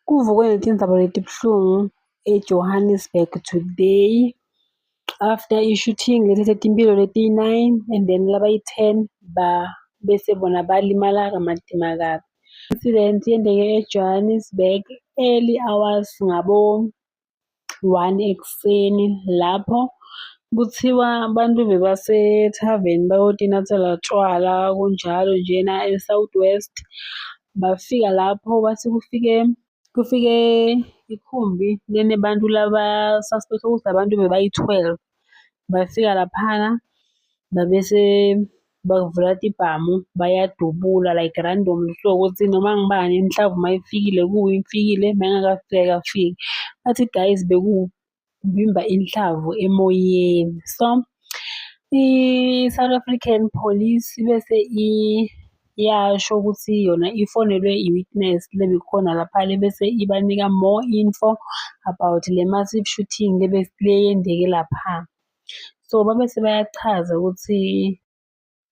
Kuvukwe ngethintaba letibuhlungu eJohannesburg today after i-shooting lethethe timphilo letiyi-9 and then labayi-10 ba bese bona balimala kamatima kabi. Incident yendeke eJohannesburg early hours ngabo one ekuseni lapho kuthiwa abantu bebasethaveni bayotinathela tshwala kunjalo njena e-South West. Bafika lapho bathi kufike kufike ikhumbi lenebantu laba-suspect-a ukuthi abantu bebayi-twelve. Bafika laphana babese bavula tibhamu bayadubula like random so ukuthi noma ngibani mhlawumbe uma ifikile kuyo ifikile uma ingakafiki akafiki. Bathi guys bekuwuvimba inhlavu emoyeni so i-South African Police bese iyasho ukuthi yona ifonelwe i-witness lebikhona lapha lebese ibanika more info about le massive shooting leyendeke lapha. So babe sebayachaza ukuthi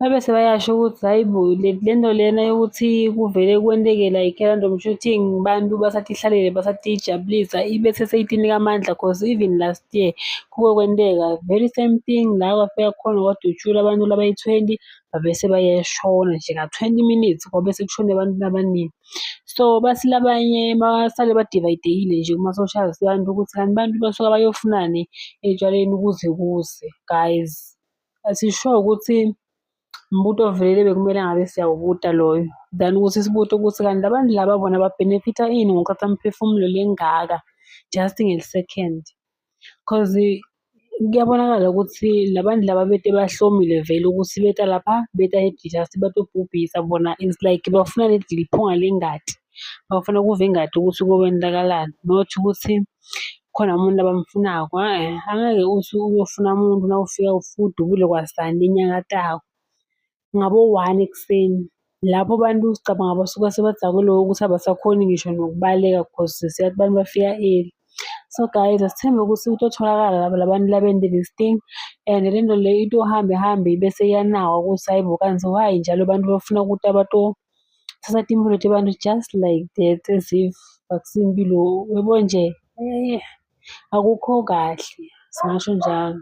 babe sebayasho ukuthi hhayi bo le nto lena yokuthi kuvele kwenteke like random shooting abantu basatihlalele basatijabulisa ibe seseyitinika amandla cause even last year kuke kwenteka very same thing la kwafika khona kwadutshulwa abantu labayi-twenty babese bayashona nje ka-twenty minutes kwabe sekushone abantu abaningi. So bathi labanye basale badivayidekile nje kuma-social abantu ukuthi kanti abantu basuka bayofunani etshwaleni kuze kuze. Guys, asisho ukuthi umbuto ovelele bekumele ngabe siyawubuta loyo than ukuthi sibuke ukuthi kanti labantu laba bona babhenefitha ini ngokuqatha imiphefumulo lengaka just ngeli-second. cause kuyabonakala ukuthi labantu laba bete bahlomile vele ukuthi beta lapha beta just batobhubhisa bona it's like bafuna ledi liphunga lengadi bafuna ukuva ingadi ukuthi kokwentakalani not ukuthi khona umuntu abamfunako e-e angeke uthi uyofuna umuntu nawufika udubule kwasani enyakatako ngabo-one ekuseni lapho abantu sicabanga basuka sebadakwe lokho ukuthi abasakhoni ngisho nokubaleka because siyathi abantu bafika early. So guys asithembe ukuthi kutotholakala laba labantu laba and this thing and le nto le into ihambe hambe ibe seyanawa ukuthi hayi bo kanti why njalo abantu bafuna ukuthi abatothatha timpilo tabantu just like that as if akusiyo impilo yabo nje eh, akukho kahle singasho njalo.